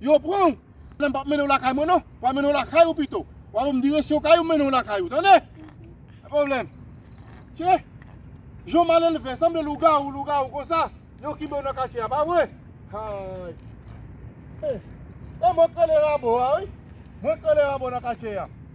Yo pran ou. Lè m pap mennen w lakay mwen non. Pral mennen w lakay ou pito. W a ban m direksyon kay ou m mennen w lakay ou. Tande! Pa gen pwoblèm. Tchè! Jan w malelve, sanble lougawou lougawou konsa. Yo kenbe w nan katye a, pa vre? Hay! E mwen k rele Rabo a wi. Mwen k rele Rabo nan katye a.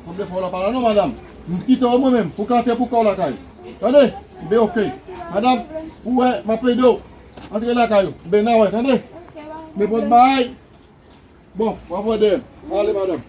Sanble fè w la pa la non madam. M kite w mwen menm pou kante pou kò w lakay. Tande! Knbe ok. Madam, ou wè m ap ede w antre lakay ou. Knbe n a wè tande. Knbe pòt baay. Bon, w ap wè dèyè m. Ale madam.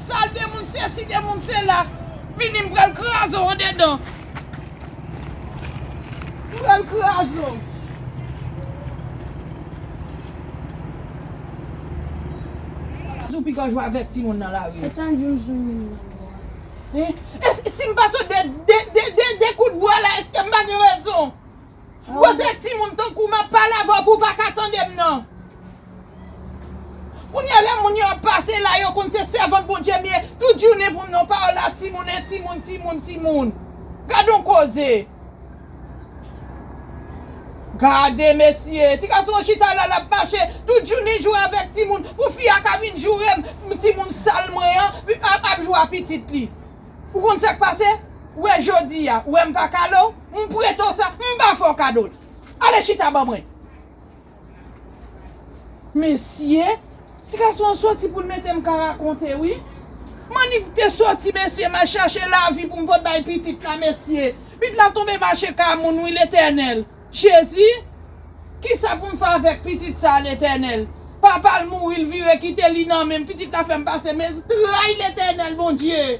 Sal de moun sesi de moun sela. Vini m pral kraze w andedan. M pral kraze w. Jou pi gran jou avèk timoun nan lari. Ou pa janm zanmi m nan bwa. Hein e si m pase w de de de kout bwa la eske m pa gen rezon. Bon se timoun tankou w map pale avè w pou w pa ka tande m nan. Kounye a lè moun yo ap pase la yo konn se sèvant Bondye m ye tout jounen pou m nan pawòl la timoun e timoun timoun timoun gad on koze gade mesye ti gason an chita la lap mache tout jounen jwe avèk timoun pou fi a ka vin joure m timoun sal mwen an ap jwe a pitit li ou konn sak pase ou wè jodi a ou wè m pa kale w m prete w sa m pa fè w kado l ale chita ban mwen. Mesye, ti gason an soti pou l mete m ka rakonte wi. Manick te soti mesye mal chache lavi pou m pot bay pitit la mesye. Pit la tonbe mache ka moun wi Letènèl. Jezi! Kisa pou m fè avèk pitit sa Letènèl? Papa l mouri l vire kite li nan men m pitit la fè m pase men tray Letènèl Bondye!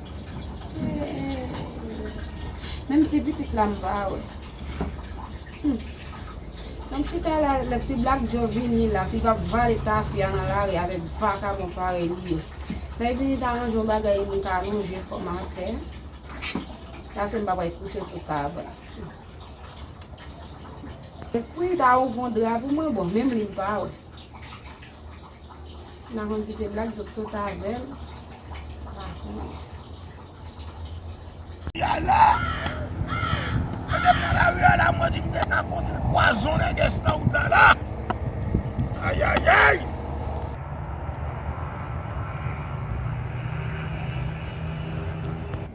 Menm ti pitit la m pa wè. Tank si ta la lè ti black joe vini la si pap vale tafya nan lari avèk vakabon parèy li yo. Lè y vini ta range yon bagay m ka lonje kò m atè. Pase m pa pral kouche sou tab. Pou y ta ouvon dra pou mwen bon menm li m pa wè. Maman di ke blag jòp sot avèl. Yay la! Mwen te pran la ri a la mwen di m te ka kontre pwazon nègès nan wout la la! Ayayay!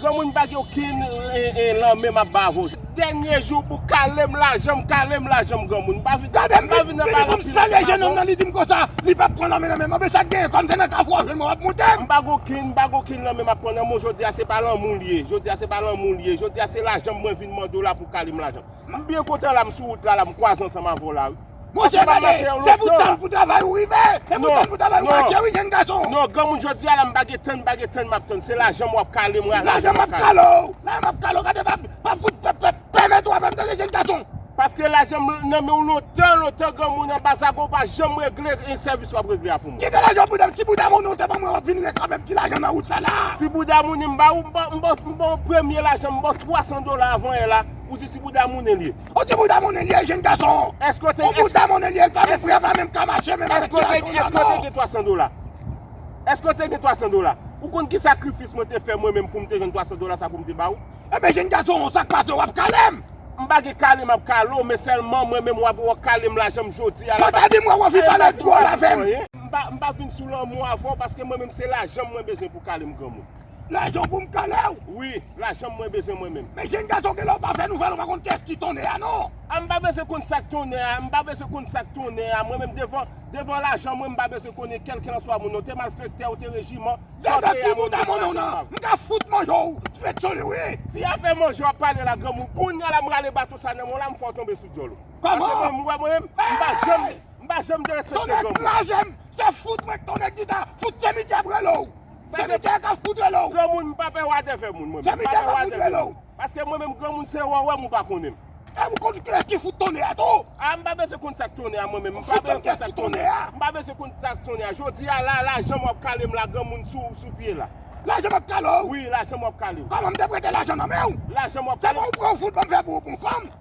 Granmoun m pa gen okenn lanmen map bay avè w. Dènye jou pou kale m lajan m kale m lajan m granmoun m pa vin Gade m vin vini pou m sere jenòm nan li di m konsa li pap pran lanmen nan men m anben sa k genyen kòm se nan kafou a w jwenn mwen wap moute m. M pa gen okenn m pa gen okenn lanmen map pran nan men w jodi a se pa lanmou l ye jodi a se pa lanmou l ye jodi a se lajan m mwen vin mande w la pou w kale m lajan m byen kontan la m sou wout la la m kwaze ansanm avè w la wi. Monchè gade, se pou tann pou travay ou rive, se pou tann pou travay ou mache wi jenn gason. Non granmoun jodia la m pa gen tann m pa gen tann map tann se lajan m wap kale mwen lajan map kale w lajan map kale w gade pa pa fout pèp pèp pèmèt ou avèm tande jenn gason. Paske lajan m nan men w lontan lontan granmoun anba zago ou pa janm regle yon sèvis wap regle a pou mwen. Kite lajan bouda m ti bouda moun ou se pa mwen wap vin reklamem ti lajan nan wout la la. Ti bouda moun m ba ou m ba w premye lajan m ba w 300 dola avan yè la ou di ti bouda moun li. Ou ti bouda monnen liye jenn gason an. Eske w te Ou bouda monnen liye l pa menm fre l pa menm ka mache menm avèk ti aton nan non. Eske w te gen 300 dola? Eske w te gen 300 dola? Ou konn ki sakrifis mwen te fè mwen menm pou m te jwenn 300 dola sa pou m te ba w? Ebyen jenn gason an sak pase w ap kale m? M pa gen kale m ap kale w men sèlman mwen menm w ap wè w kale m lajan m jodi a la Fanta di m wè w anvi pale twòl avè m. M pa vin sou lanmou avè w paske mwen menm se lajan m mwen bezwen pou w kale m granmoun. Lajan w pou m kale w? Wi, lajan mwen bezwen mwen menm. Men jenn gason genlè w pa fè nouvèl ou pa konn kiyès ki tonnè a non. A m pa bezwen konn sa k tonnè a, m pa bezwen konn sa k tonnè a mwen menm devan devan lajan mwen m pa bezwen konnen kèlkelanswa moun nan, w te malfèktè, w te rejiman, sa w te ye a mwen m bezwen lajan pa m. M ka fout manje w fèt sou li wi. Si afè manje w ap pale la granmoun, kounya la m rale bato sa nan men w la m fè w tonbe sou dyòl ou. Kòman? Paske mwen menm, ou wè mwen menm, m pa janm m pa janm derespekte granmoun. Tonnè k laje m, se fout mwen k tonnè gita, fout se midi ap rele w. Se mi tè kap fout rele w. Granmoun m pa pè watè fè moun mwen menm. Se mi tè kap fout rele w. Paske mwen menm granmoun se wè w wè m ou pa konnen m. E m konn kilès ki fout tonnè a tou. A m pa bezwen konn sak tonnè a mwen menm. M pa bezwen konn sak tonnè a. M pa bezwen konn sak tonnè a. Jodi a la la janm wap kale m la granmoun sou pye la. La janm ap kale w? Wi la janm wap kale w. Kòman m te prete lajan nan men w? La janm wap kale m? Se pa w pran w fout banm fè pou ou pou m fanm?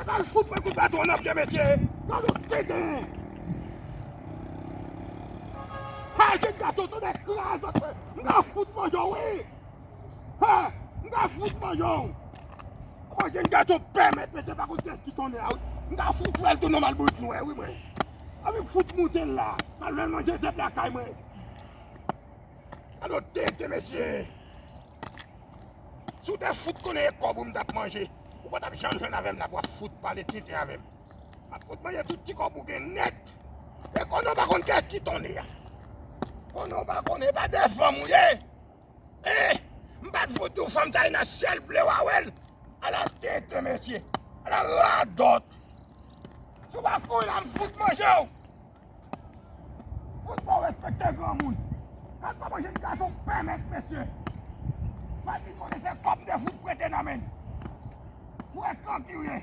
Epa l fout pran kout baton nan vye mesye. Gad yon deden. Ha jen gason tonnè kras zòt fè. M ta fout manje w wi. Ha m ta fout manje w. Epa jen gason pèmèt mesye pa konn kiyès ki tonnè a wi. M ta fout fè l tounen mal bourik nwè wi mwen. Anvi m fout moute l la. M al fè l manje zèb lakay mwen. Alo tenten mesye. Si w te fout konnen e kòb ou m t ap manje, ou pa t ap janm jwenn avè m la pou w ap fout pale tenten avè m. M ap fout manje tout ti kòb ou gen nèt. E konnen w pa konn kè ki ton e a. Konnen w pa konn e pa de fanm ou ye. E, m pa t fout di w fanm sa e nan syèl ble w a wè l. Ala tenten mesye. Ala radòt. Si w pa konn la m fout manje w. Fout bon respekte granmoun. Gad koman jenn gason pè mèt mesye. Fadi konnen se kòb de fout prete nan men. Frekan ki ou ye.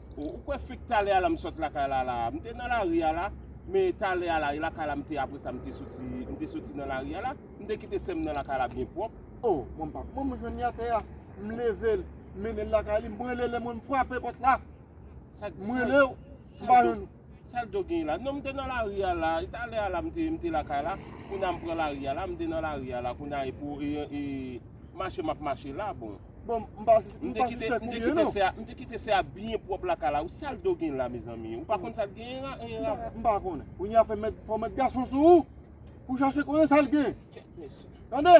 Oh ou kwè fek talè a la m sot lakay la la a. M te nan lari a la, men talè a la e lakay la m te apresa m te soti m te soti nan lari a la. M te kite sè m nan lakay la byen pwòp. Oh mwen m pa k mwen m jwenn li atè a. M leve l, m mennen l lakay li, m rele le mwen m frape pòt la. M rele w, m pa jwenn ou. Sal do genyen la. Non m te nan lari a la, e talè a la m te m te lakay la, kounye a m pran lari a la, m te nan lari a la kounye a e pou e e mache m ap mache la bon. Bon m pa m pa sispèk ou byen non. M te kite sè a byen pwòp lakay la wi sal do genyen la mezanmi ou pa konn sal genyen la e la. M pa konnen. Kounye a fè mèt fò mèt gason sou ou pou chache konnen sal genyen. Kèt mesye. Tande!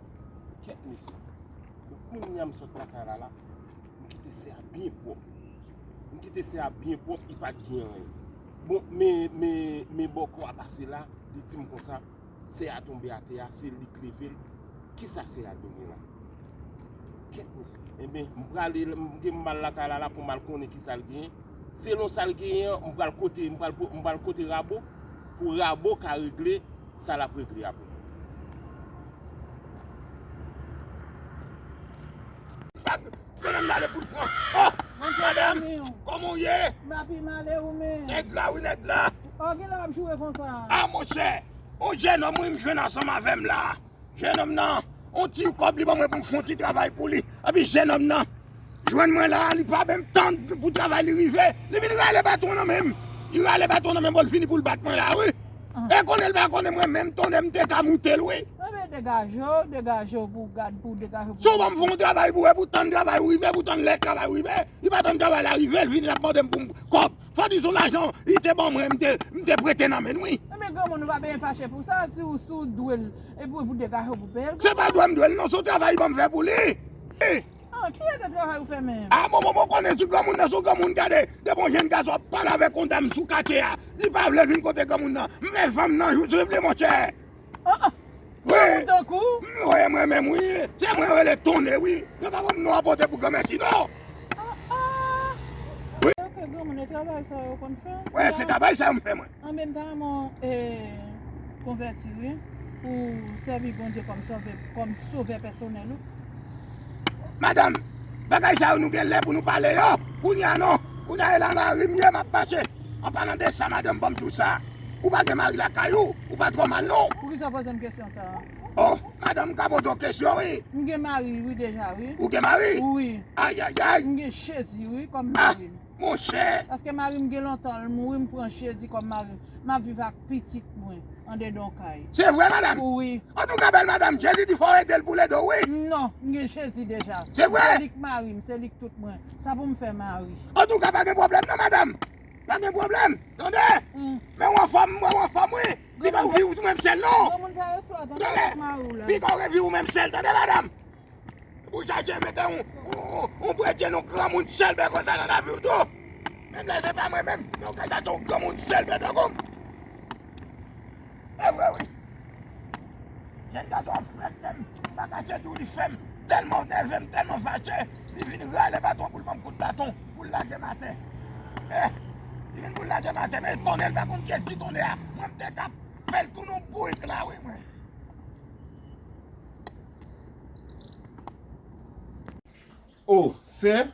Kèt mesye, bon kounya m sot lakay la la, m kite se a byen pwòp. M kite se a byen pwòp, li pa t gen anyen. Bon, men, men, men bòkò a pase la, li di m konsa, se a tonbe atè a, se li k leve l, kisa se a done la? Kèt mesye, enben, m prale, m gen m mal lakay la la pou m al konnen kisa l genyen. Selon sa l genyen an, m pral kote, m pral, m pral kote Rabo, pou Rabo ka regle. Sa lap regle apre. Madanm nan ale poul pran. Oh! Madanm! Koman ou ye? Mwen pi mal e ou menm? Nèg la wi nèg la. Oh gen lè wap joure konsa? Ah monchè! On jenòm wi m jwenn ansanm avèm la. Jenòm nan, on ti kob li ban mwen pou m fon ti travay pou li. Epi jenòm nan. Jwenn mwen la a li pa menm tann pou travay li rive li vin rale baton nan menm li rale baton nan menm bon li fini pou l bat mwen la a wi e konnen l pa konnen mwen menm tonnè m te ka moute l wi. Ebyen degaje w degaje w pou w gad pou w degaje w pou w. Si w ban m fè yon travay pou wè pou w tann travay ou rive pou w tann lè travay ou rive li pa tann travay la rive l vini l ap mande m pou m kòb fòdi son lajan li te ban mwen m te prete nan men l wi. Ebyen granmoun ou pa benyen fache pou sa si w si w dwe l epi w degaje w pou w peye l. Se pa dwe m dwe l non se yon travay li ban m fè pou li. An ki eta travay ou fè menm? Ah bon bon bon konnen si granmoun nan son granmoun gade depi yon jenn gason ap pale avèk yon dam sou katye a li pa vle vin kote granmoun nan m fè zanm nan jou tripli monchè Ah ah wi granmoun tankou w. M voye mwen menm wi se mwen yo rele tonne wi yo pa ban m non a pote pou granmèsi non Ah ah wi. Yo ke granmoun e travay sa yo konn fè. Wè se travay sa yo m fè mwen. Anmèm tan mwen konvèti wi pou sèvi Bondye kòm sòvè kòm sovè pèsonèl ou. Madam, bagay sa yo nou gen lè pou nou pale yo, kounya non, kounya e la nan ri m ye map mache, an palan de sa madanm banm tou sa, ou pa gen mari lakay ou, ou pa twò mal non. Poukisa w poze m kesyon sa a? Oh, madanm m ka poze w kesyon wi. M gen mari wi deja wi. Ou gen mari? Wi. Ayayay. M gen Jezi wi kòm mari m. monchè. Paske marim gen lontan l mouri m pran jezi kòm marim map viv ak pitit mwen andedan kay. Se vre madam? Wi. Antouka bèl madam jezi di fòw edel pou ledo wi. Non m gen jezi deja. Se vre? Se lik marim se lik tout mwen sa poum fè mari. Antouka pa gen pwoblèm non madam pa gen pwoblèm tande menw anfòm m wèw anfòm wi pigaw viw tou menm sèl non tande pigaw reviw menm sèl tande madam. Ou chache mete yon bredye yon granmoun sèlbè konsa nan lavi ou tou? Menm lè se pa mwen menm, men ou ka chache yon granmoun sèlbè tankou m. E vre wi. Jèn gason an frèt menm, m pa kache di w li fè m tèlman w nève m, tèlman m fache, li vin rale baton pou l ban m kout baton pou l lage m atè. E, li vin pou l lage m atè men e tonnè l pa konn kiyès ki tonnè a. Mwen m te ka fè l tounen yon bourik la wi mwen. Oh sè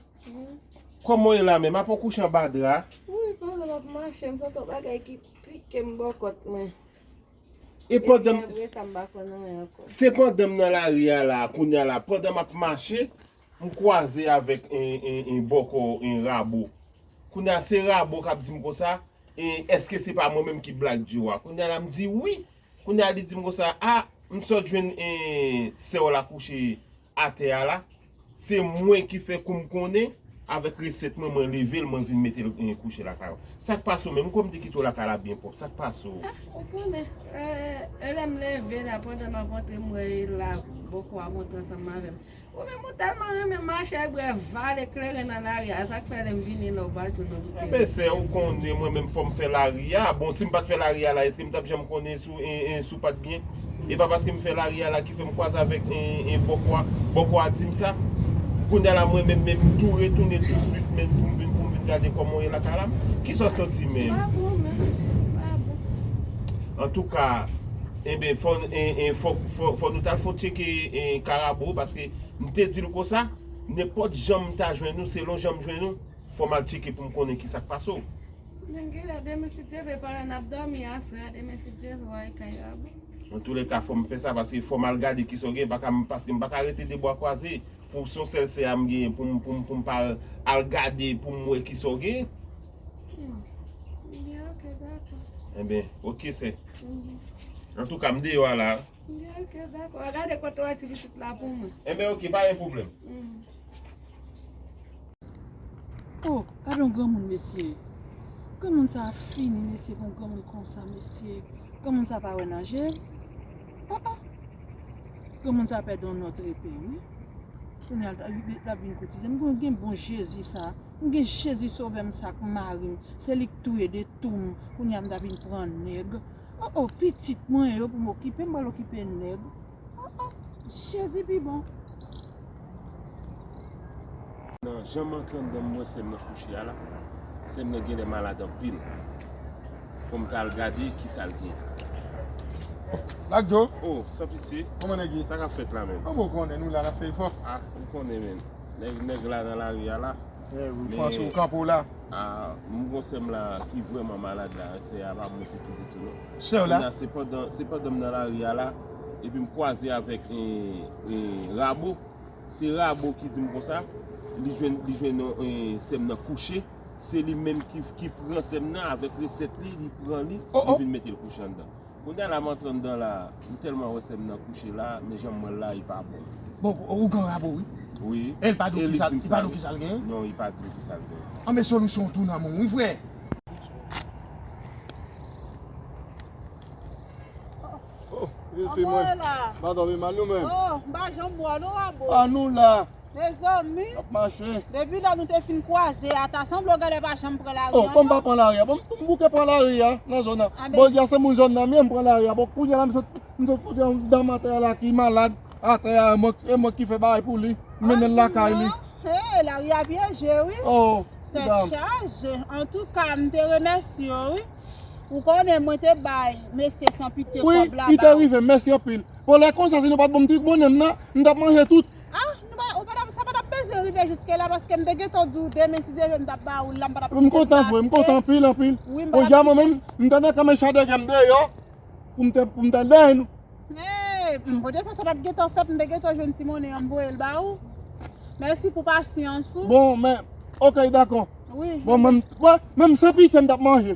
Koman w ye la menm apa w kouche anba dra. Wouyy pandan m ap mache m santi yon bagay ki pike m bò kòt mwen. E pandan m. Epi apre sa m pa konn anyen ankò. Se pandan m nan lari a la kounya la pandan m ap mache m kwaze avèk en bòkò en rabo. Kounya se rabo k ap di m konsa en èske se pa mwen menm ki Black Joe a. Kounya la m di wi. Kounya li dim konsa a m sot jwenn sèw la kouche atè a la se mwen ki fè koum konnen avèk resèt mwen mwen level mwen vin metel kouche lakay ou sak pase w menm kòm te kite w lakay la byen pwòp sak pase w. Ah ou konnen eh lèm lève la pandan map antre m wè e la bòkò a monte ansanm avèl. Ou menm ou tèlman renmen mache ak brè vale kleren nan lari a sak fè lèm vini la ou pa tou dòm tere. Mè sè ou konnen mwen menm fòm fè lari a bon sim pat fè lari a la eskem tap janm konnen sou en sou pat byen epa paskem fè lari a la ki fèm kwaze avèk en bòkòa bòkòa dim sa kounya la mwen menm menm tou retounen tou swit menm poum vin poum vin gade kòman ou ye lakay la kisa ou santi menm. Mpa bon menm mpa bon. Antouka. Enben fò nou tal fon tcheke karabo paske m te dil konsa nenpòt jan m ta jwenn ou selon jan m jwenn ou fò m al tcheke pou m konnen kisa k pase w. Nège a demen si Dye vle pandan nap dòmi aswè a demen si Dye vle w al karabo. Antoulèka fò m fè sa paske fò m al gade kisa w gen paske m pa ka rete de bwa kwaze pou son sèl sè a m genyen pou m pa al gade pou m wè kisa w gen Enben, ok sè. An tou ka m deyò a la. Enben ok, pa gen pwoblèm. Oh, gade yon granmoun mesye. Granmoun sa a fini mesye pou yon granmoun konsa mesye. Granmoun sa a pa wè nan je l. Oh oh. Granmoun sa a pèdi yon nòt repe wi. Kounya l ap vin koutize. M gen bon Jezi sa a. M gen jezi sovèm sak marim se li k touye de toum kounye a m ta vin pran nèg oh oh pitit mwen yo pou m okipe m pral okipe nèg oh oh jezi pi bon. Nan janm antre anndanm m wè sèm nan kouche a la sèm nan genlè malad anpil fòm ta al gade kisal gen Black Joe oh san pitye Kòman nèg ye sa kap fèt la menm oh mwen konnen nou la nap fè efò ah ou konnen menm. Nèg la nan lari a la. Eh wi, panse ou kanpe w la. Ahh m gon sè m la ki vrèman malad la, sè a pa bon ditou ditou non. Sè w la? Kounya se pandan, se pandan m nan lari a la, epi m kwaze avèk Rabo, se Rabo ki di m konsa, li jwenn, li jwenn sè m nan kouche, se li menm ki pran sè m nan avèk resèt li, li pran li, li vin mete l kouche anndan. Kounya la m'antre anndan la m telman wè sèm nan kouche la men janm wèl la li pa bon. Bon ou gan rabo wi. Wi El pa diw kisal li pa diw kisal gen. Non li pa diw kisal gen. Anmey solo son tou nan menw wi frè. Anmwey la. Mpa domi mal nou menm. Oh mpa janm wè nou rabo. An nou la. Mezanmi. Nap mache. Depi lè nou te fin kwaze a, ta sanble w gade pa janm pran lari an non. Oh, kòm m pa pran lari a. Bon, m bouke pran lari a nan zòn nan. Anben. Bon, di a se moun zòn nan m ye, m pran lari a. Bon, kounye a la m sot, m sot kote yon dam atè a la ki malad. Atè a, e mwen ki fè bagay pou li. M mennen l lakay li. An di non. Lari a pyeje wi. Oh, ti dam. Tèt chaje. Antouka, m te remèsye w wi. Ou konnen mwen te bay mesye san pitye kòb la ba ou. Wi, li te rive m. Mèsi anpil. Bon, lè konsa si nou pa t ban m ti bonè m nan, m t ap manje tout. Ah nou pa ou pa tap sa pa tap bezwen rive jiske la paske m te gentan di w demen si Dye vle m tap ba ou l la m pa tap kite sa ase. M kontan vre m kontan anpil anpil. Wi m pa tap kite. Podyab mwen menm m ta nan kanmen chadè gen m deyò pou m te pou m ta dèyè nou. Hey m bon defwa sa pat gentan fèt m te gentan jwenn ti monnen an m voye l ba ou. Mèsi pou pasyans ou. Bon men ok dakò. Wi. Bon men m t kwè menm san pise m tap manje.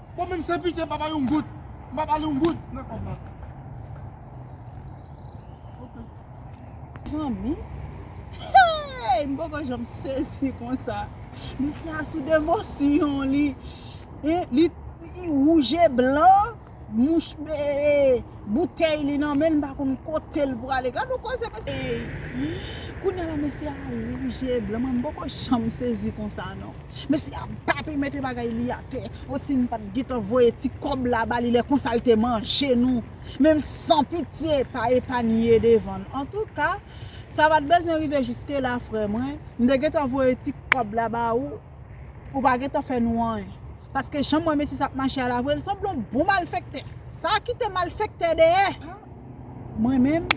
Bon menm san pitye mpa bal yon goud mpa bal yon goud nan kòb la ok pran mi hey mpoko janm sezi konsa mesye a sou devosyon li li wouj e blan mouch bee boutèy li nan menl mpa konn kotel pwale gad yon koze mesye hey kounya la mesye a wouj e blan mwen mpoko janm sezi konsa non. Mesye a bape mete bagay li atè o si nou pat gentan voye ti kòb la bali lè konsa li te manje nou menm san pitye pa epanye devann antouka sa pat bezwen rive jiske la frè mwen m te gentan voye ti kòb la ba ou ou pa gentan fè nou anyen paske janm wè mesye sa ap mache a la vre li sanble yon bon malfèktè sa kite malfèktè dèyè. Mwen menm,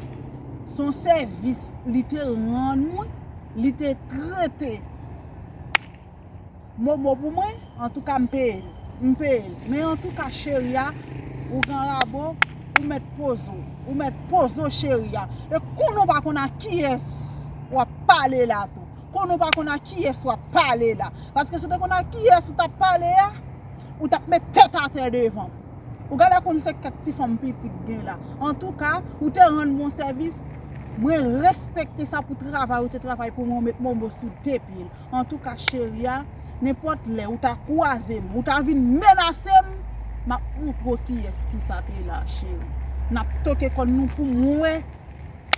se yon sèvis li te rann mwen, li te trete Momo pou mwen, antouka m peye l, m peye l. Men antouka cheri a, ou gen rabo, ou mèt poze w, ou mèt poze w cheri a. E konn ou pa konn a kiyès w ap pale la tou. Konn ou pa konn a kiyès w ap pale la. Paske si w te konn a kiyès ou t ap pale a, ou t ap met tèt atè devan m. Ou gade konn se kèk ti fanm piti ki gen la. Antouka, ou te rann mwen sèvis, mwen respekte sa pou travay ou te travay pou mwen, ou met momo sou de pye. Antouka cheri a, nenpòt lè ou ta kwaze m, ou ta vin menase m, m ap montre w kiyès ki sa te la cheri. N ap toke kòn nou pou mwen wè.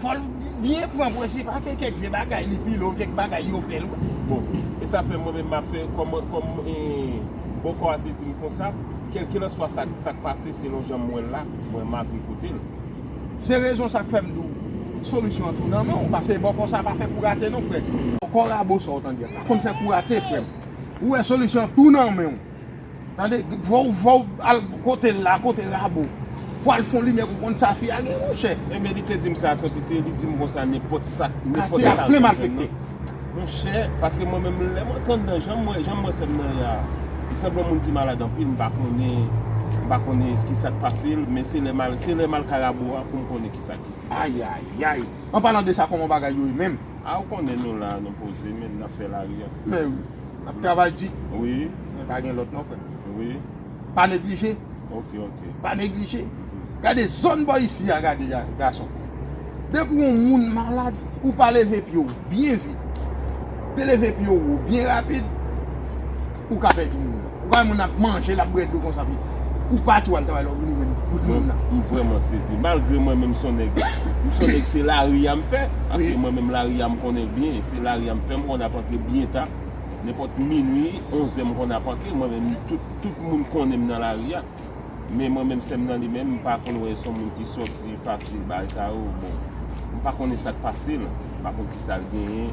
Fò l byen pran pou l se pa ke kèk vye bagay li pile ou kèk bagay yo fè l wè. Bon, e sa fè mwen menm m ap fè kòm bòkò a te di m konsa, kèlkelanswa sa k pase selon jan m wè l la, mwen m ap repote l. Se rezon sa k fè m di w solisyon an tou nan men w pase bòkò sa pa fè kou rate non frè. Bòkò rabo sa w tande a pa konn fè kou rate frè m. Ou wè solisyon an tou nan men w. Tande vòw vòw al kotel la kote rabo Pou al fon limyè pou konn sa fi a gen monchè. Ebyen li te dim sa san pitye li dim konsa nenpòt sak nenpòt Katye a plen malfekte. Monchè paske mwen menm lè mwen tand nan janm wè janm wè sèm nan ya li sanble yon moun ki malad anpil m pa konnen m pa konnen kisak pasel men se lè mal se lè mal kay rabo a poum konnen kisa ki kisak Ayayayy anpalan de sa kòman bagay yo ye menm. Ah ou konnen nou la nou poze men nap fè lari an. Mèwi. Ap travay di. Wi. Men pa gen lòt non frè m. Wi. Pa neglije. Ok ok. Pa neglije. Gade zòn bò isi a gade gason. Depi yon moun malad ou pa leve pye w byen vit. Pe leve pye w wo byen rapid. Ou ka pèdi moun nan. Ou ka wè moun nan ap manje l ap bwè dlo konsa pi. Ou pa tou al travay lè w vini menm kout moun nan. M vrèman sezi. Malgre mwen menm son nèg. M son nèg se lari a m fè. Paske mwen menm lari a m konnen byen. Paske lari a m fèm konn ap antre byen ta, nenpòt minwi, onzè m konn ap antre mwen menm tout tout moun konnen m nan lari a. Men mwen menm sèm nan li menm m pa konn wè son moun ki sòti fasil bagay sa yo bon m pa konnen sak pase l m pa konn kisa l genyen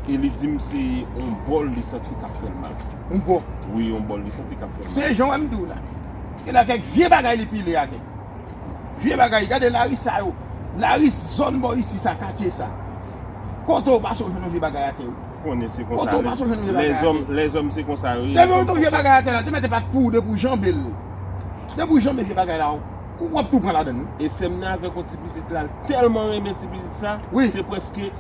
e li di m se on bòl li santi kap fè l mal. On bò? Wi on bòl li santi kap fè l mal. Se jan wè m di w la. Gen la kèk vye bagay li pile atè. Vye bagay gade laris sa yo laris zòn bò isi sa katye sa kote ou pase ou jwenn yon vye bagay atè wi. Konnen se konsa wi lèzòm lèzòm se konsa yo ye yo konn fon fon. Te mete pat pou ou depi ou janbe l depi ou janbe vye bagay la ou ap tou pran ladann wi. E sèm nan avèk yon ti pitit la l tèlman renmen ti pitit sa se prèske.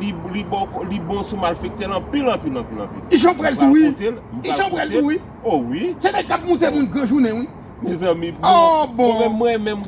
Li bon sou malfektè l anpil anpil anpil anpil. Ijan prèl tou wi. Ijan prèl tou wi. Oh wi. Se nèg kap moute moun gran jounen wi. Mezanmi pou bon menm mwen menm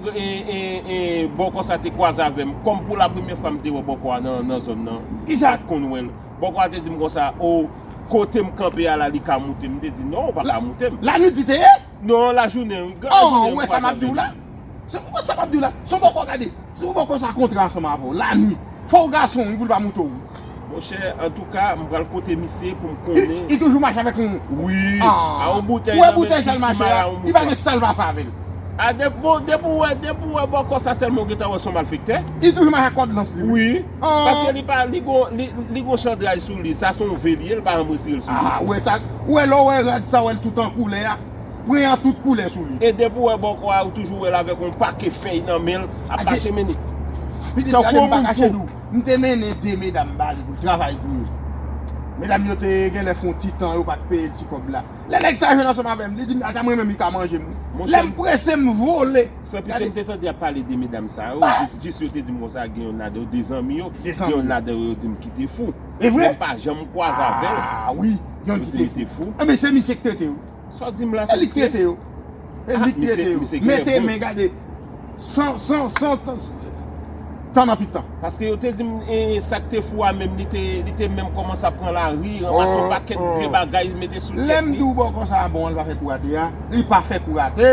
bòkò sa te kwaze avèm kòm pou la premyè fwa m te wè bòkò a nan zòn nan m pat konn wèl bòkò a te dim konsa oh kotem kanpe a la li ka moutem m te di non ou pa ka moutem. Lanwit li te ye? Non lajounen wi gran lajounen wi pa janm vini. Se pou kò sa map diw la, son bòkò gade, se pou bòkò sa kontra ansanm avèw, lanwi, fòw gason wi poul pa moute w wi. Monchè antouka m pral kote misye pou m konnen. Li toujou mache avèk yon. Wi, a yon boutèy nan men li ki mare a yon mouton. Li pa gen sal pa fè avèl. A depi ou wè bòkò sa sèlman ou gentan wè son malfektè. Li toujou mache ak kòd lans li wi. Wi. Paske Aww. li pa li gon li gon chandraj sou li sa son ve li ye li pa janm retire l sou li. Aa ou wè sa ou wè lè ou wè rad sa ou wè l tout an koulè a pren an tout koulè sou li. E depi ou wè bòkò a ou toujou wè l avèk yon pake fèy nan men l ap Adje. mache mennen Pitit tankou gade m yon pa moun kache fou. nou m te mennen 2 medam ba li pou l travay pou yo medam yo te genlè fon ti tan yo pat peye l ti kòb la lè nèg sa jwenn ansanm avè m li di m ata mwen menm li ka manje m wi Monchè lè m m. prese m vole. San pitie m te tande yap pale de medam sa yo, jis yo te di m konsa gen youn ladan yo, 2 zanmi yo, gen youn ladan yo yo di m ki te fou. Men m pa janm kwaze avè l. Ah wi, gen youn ki te fou. Anben se misie k trete yo. Sa w di m la se li k trete yo. Ah misie gen lè bon. Mete men gade san san san. Tan anpi tan. Paske yo te di m sa k te fou a menm li te li te menm kòmanse ap pran lari, ranmase yon pakèt vye bagay mete sou tèt li. Lè m di w bòkò sa a bon an li pa fè kou rate a, li pa fè kou rate!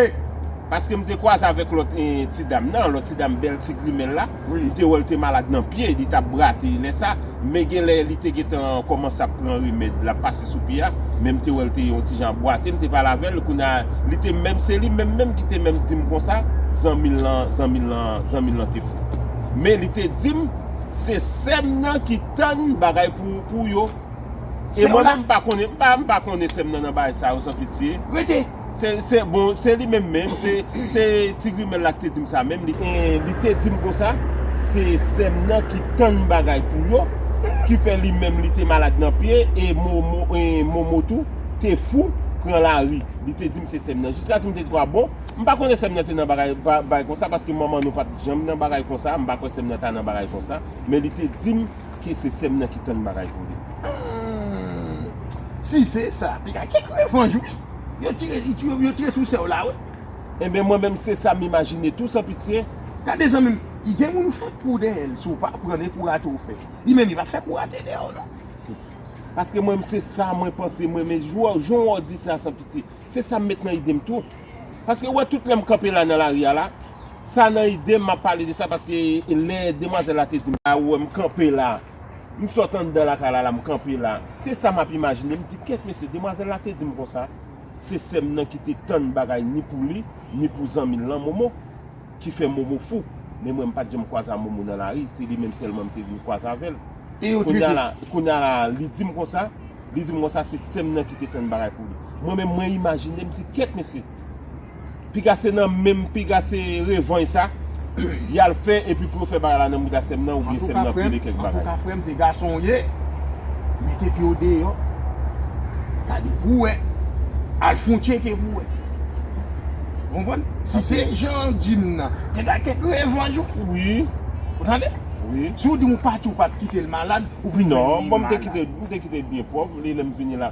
Paske m te kwaze avèk lòt ti dam nan, lòt ti dam bèl ti grimèl la, m te wè l te malad nan pye, li t ap brate lè sa. Men genlè li te gentan kòmanse ap pran remèd lap pase sou pye a, men m te wè l te yon ti jan ap bwate, m te pale avè l, kounye a li te menm se li menm menm ki te menm di m konsa, zanmi l lan, zanmi l lan, zanmi l lan te fou. Men li te di m se sè m nan ki tann bagay pou pou yo e mwen menm m pa konnen, m pa m pa konnen sè m nan nan bagay sa yo san pitye. Rete! Se, bon, se li menm menm, se ti grimèl la ki te di m sa menm, li te di m konsa, se sè m nan ki tann bagay pou yo, ki fè li menm li te malad nan pye, e Momo tou te fou pran lari, li te di m se sè m nan. Jiskaske m te di, a bon, m pa konnen sè m nan te nan bagay konsa, paske manman nou pa t janm nan bagay konsa, m pa kwè sè m nan ta nan bagay konsa, men li te di m. Ke se sèm nan ki tann bagay pou li. Humm si se sa li ka gen kèk revanj wi yo tire yo tire sou sèw la wi. Enben mwen menm se sam imajine tou san pitye. Gade zanmim gen moun ou fèk pou dèyèl si w pa pranl e pou rate ou fè li menm li pap fèk ou rate dèyè w non. Paske mwen menm se sa mwen panse mwen menm jan ou di sa san pitye se sa m met nan idem tou paske ou wè tout lèm kanpe la nan lari a la. Sa nan idem map pale de sa paske lè demwazèl la te dim sa ou wè m kanpe la m sot anndan lakay la la m kanpe la se sa map imajine m di kèt mesye demwazèl la te dim konsa se sèm nan ki te tann bagay ni pou li ni pou zanmi l lan momo ki fè momo fou men mwen m pat janm kwaze a momo nan lari se li menm sèlman m te vin kwaze avèl kounya la kounya la li dim konsa li dim konsa se sèm nan ki te tann bagay pou li mwen menm mwen imajine m di kèt mesye. Piga se nan menm piga se revanj sa yal fè epi pou yo fè bagay la nan mouda sèm nan oubyen sèm nan pile kèk bagay. Antouka frèm se gason ou ye mete pyew deyò gade pou wè al fon tcheke pou wè ou konprann si se janw dim nan te bay kèk revanj ou ou tande si ou dim ou pati ou pat kitel malad ou vin jwenn li malad. Non bon mte kitel byen pwòp li lèm fini la.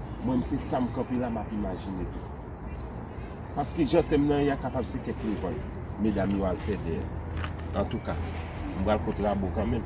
Mwen se sam kanpe la map imajine tou. Paske jan sèm nan ye a kapab se kèk levann medam yo al fè dèyè. Antouka, m pral kot Rabo kanmenm.